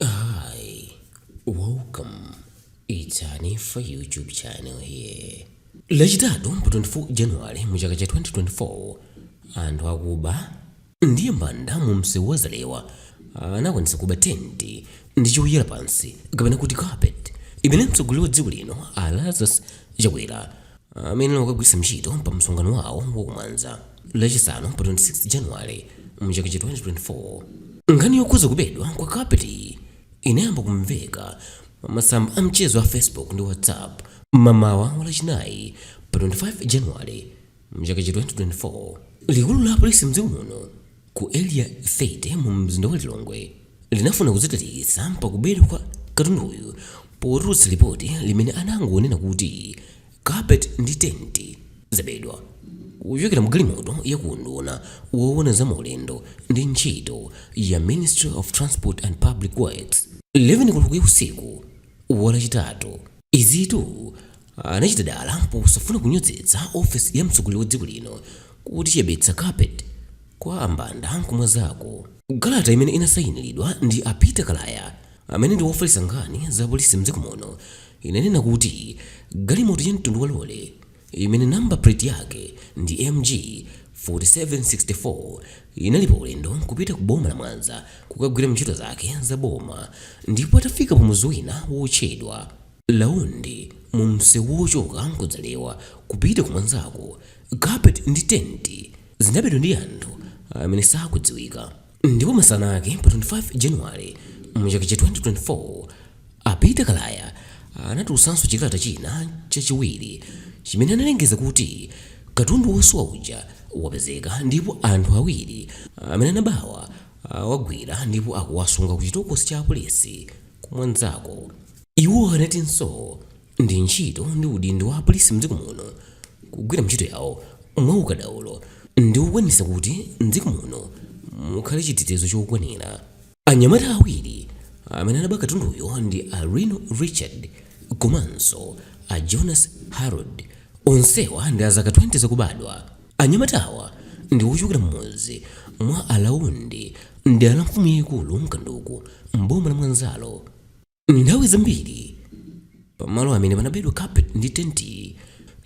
Hi, welcome. It's Hanifa YouTube channel here. Lachitatu pa 24 January mu chaka cha 2024 anthu akuba ndi ambanda mu msewu wa Zalewa anakwanitsa kuba tenti ndi choyala pansi kapena kuti carpet imene mtsogoleri wa dziko lino a Lazarus Chakwera amakagwiritsa ntchito pa msonkhano wawo wa ku Mwanza Lachisanu pa 26 January mchaka cha 2024. Nkhani yokhudza kubedwa kwa kapetiyi inayamba kumveka pa masamba a mchezo a Facebook ndi WhatsApp mamawa wa Lachinayi pa 25 January mchaka cha 2024. Likulu la polisi mdziko muno ku Area 30 mu mzinda wa Lilongwe linafuna kudzitalikitsa pakubedwa kwa katunduyu potulutsa lipoti limene anangonena kuti carpet ndi tenti zabedwa kuchokera mu galimoto ya ku unduna woona za maulendo ndi ntchito ya Ministry of Transport and Public Works 11 koloko ya usiku wa Lachitatu Izitu anachita dala posafuna kunyozetsa ofesi ya mtsogoleri wa dziko lino kuti chiyibetsa carpet kwa ambanda ku Mwanzako. Kalata imene inasayinilidwa ndi a Peter Kalaya amene ndi wofalitsa nkhani za polisi mdziko muno inanena kuti galimoto ya mtundu wa lole imene number plate yake ndi MG 4764 inali pa ulendo kupita ku boma la Mwanza kukagwira ntchito zake za boma ndipo atafika pa mudzi wina wotchedwa Laundi mu msewu wochoka ku Zalewa kupita ku Mwanzako, carpet ndi tenti zinabedwa ndi anthu amene sakudziwika. Ndipo masana ake pa 25 January mu chaka cha 2024, a Peter Kalaya anatulutsanso chikalata china chachiwiri chimene analengeza kuti katundu wosowa uja wapezeka ndipo anthu awiri amene anabawa awagwira ndipo akuwasunga ku chitokosi cha apolisi ku Mwanzako. Iwo anatinso Ndi ntchito ndi udindo wa apolisi mdziko muno kugwira ntchito yawo mwa ukadaulo ndi kukwanisa kuti mdziko muno mukhale chitetezo chokwanira. Anyamata awiri amene anaba katunduyo ndi a Rino Richard komanso a Jonas Harold onsewa ndi azaka 20 zakubadwa. Anyamatawa ndi ochokera m'mudzi mwa a Laundi mdera la mfumu yaikulu Kanduku m'boma la Mwanzalo. nthawi zambiri pamalo amene panabedwa carpet ndi tenti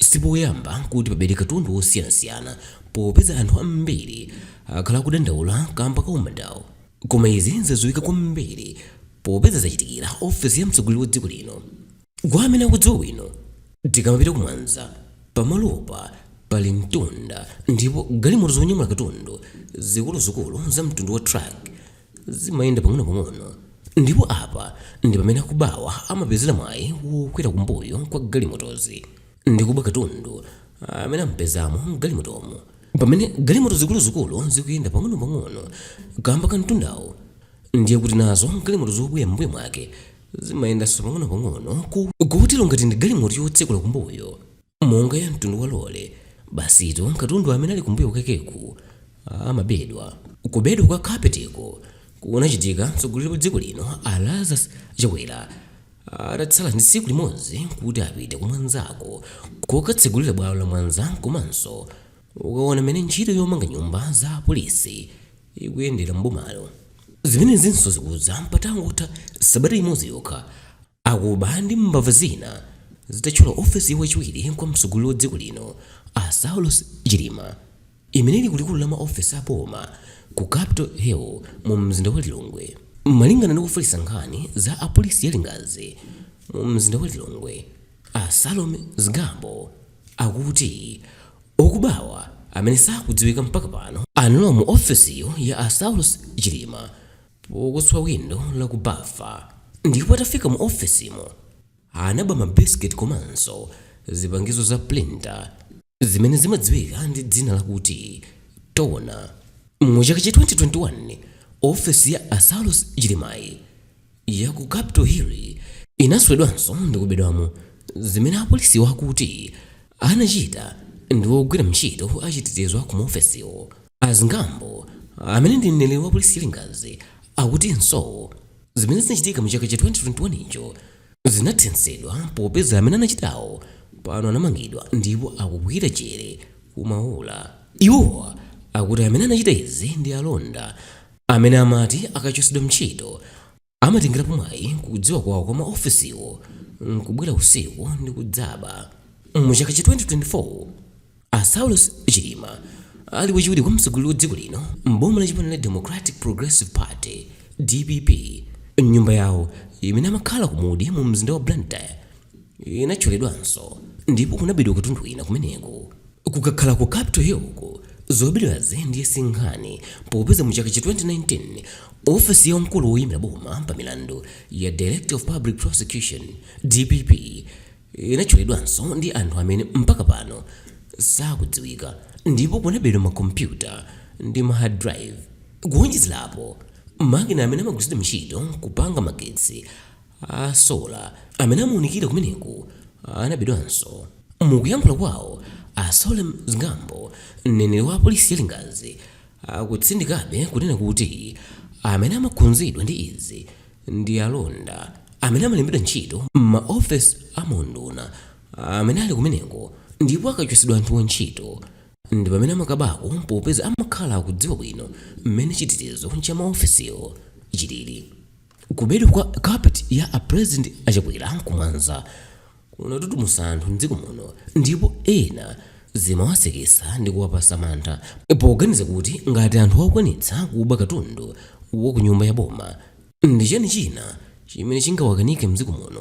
sipoyamba kuti pabedwe katundu wosiyanasiyana popeza anthu ambiri akhala akudandaula kamba ka umbandawo koma izi zadziwika kwambiri popeza zachitikira ofesi ya mtsogoleri wa dziko lino kwa amene akudziwa bwino tikamapita kumwanza pamalopa pali mtunda ndipo galimoto zonyamula katundu zikuluzikulu za mtundu wa truck zimayenda pang'onopang'ono ndipo apa ndi pamene akubawa amapezera mwayi wokwera kumbuyo kwa galimotozi ndi kuba katundu amene ampezamo m'galimotomo. Pamene galimoto zikuluzikulu zikuyenda pang'onopang'ono kaamba ka mtundawu, ndiye kuti nazo galimoto zobwera m'mbuyo mwake zimayendanso pang'onopang'ono kotero ngati ndi galimoto yotsekula kumbuyo, monga ya mtundu wa lole. Basitu katundu amene ali kumbuyo kwakeku amabedwa. Kubedwa kwa carpetiko kunachitika mtsogoleri wa dziko lino a Lazarus Chakwera atatsala ndi tsiku limodzi kuti apite ku Mwanzako kokatsegulira bwalo la Mwanza komanso kukaona mmene ntchito yomanga nyumba za polisi ikuyendera m'bomalo. Zimenezinso zikudza patangotha sabata imodzi yokha Akuba ndi mbava zina zitathyola ofesi ya wachiwiri kwa mtsogoleri wa dziko lino a Saulos Chilima imene ili kulikulu la maofesi a boma ku Capital Hill mu mzinda wa Lilongwe. Malingana ndi wofalitsa nkhani za polisi ya Lingadzi mu mzinda wa Lilongwe a Salome Zgambo akuti okubawa amene sakudziwika mpaka pano analowa mu ofesiyo ya a Saulos Chilima pokuswa windo la ku bafa ndipo atafika mu ofesimo anaba ma biscuit komanso zipangizo za printer zimene zimadziwika ndi dzina lakuti toner. Mu chaka cha 2021 ofesi ya a Saulos Chilimayi ya ku Capital Hill inaswedwanso ndi kubedwamo zimene apolisiwa akuti anachita ndi ogwira ntchito achitetezo a ku maofesiwo. A Zgambo, amene ndi mneneri wa polisi ya Lingadzi, akutinso zimene zinachitika mu chaka cha 2021cho zinathetsedwa popeza amene anachitawo pano anamangidwa ndipo akugwira jere ku Maula. Iwowa akuti amene anachita izi ndi alonda amene amati akachotsedwa ntchito Amatengerapo mwayi kudziwa kwawo kwa maofesiwo n'kubwera usiku ndi kudzaba. Mu chaka cha 2024, a Saulos Chilima ali wachiwiri kwa mtsogoleri wa dziko lino m'boma la chipani la Democratic Progressive Party, dpp, nyumba yawo imene amakhala ku Mudi mu mzinda wa Blantyre. inathyoledwanso ndipo kunabedwa katundu wina kumeneko kukakhala ku capital hill uko zobedwazi ndiye sinkhani popeza mu chaka cha 2019 ofesi ya mkulu woyimira boma pa milandu ya director of public prosecution dpp inathyoledwanso ndi anthu amene mpaka pano sakudziwika ndipo kunabedwa makompyuta ndi ma hard drive kuwonjezerapo makina amene amagwiritsidwa ntchito kupanga magetsi a solar amene amaunikira kumeneko anabedwanso. Mukuyankhula kwawo, a Solem Zgambo, mneneri wa apolisi ya Lingadzi, akutsindikabe kunena kuti amene amakhudzidwa ndi izi ndi alonda amene amalembedwa ntchito mma office a maunduna amene ali kumeneko ndipo akachotsedwa anthuwa ntchito ndipamene amakabako popeza amakhala akudziwa bwino mmene chitetezo cha ma officewo chilili. Kubedwa kwa carpet ya a president a Chakwera ku Mwanza kunatutumusa anthu m'dziko muno ndipo ena zimawasekesa ndi kuwapasa mantha poganiza kuti ngati anthu akukwanitsa kuba katundu wa ku nyumba ya boma, ndi chani china chimene chingawakanike m'dziko muno?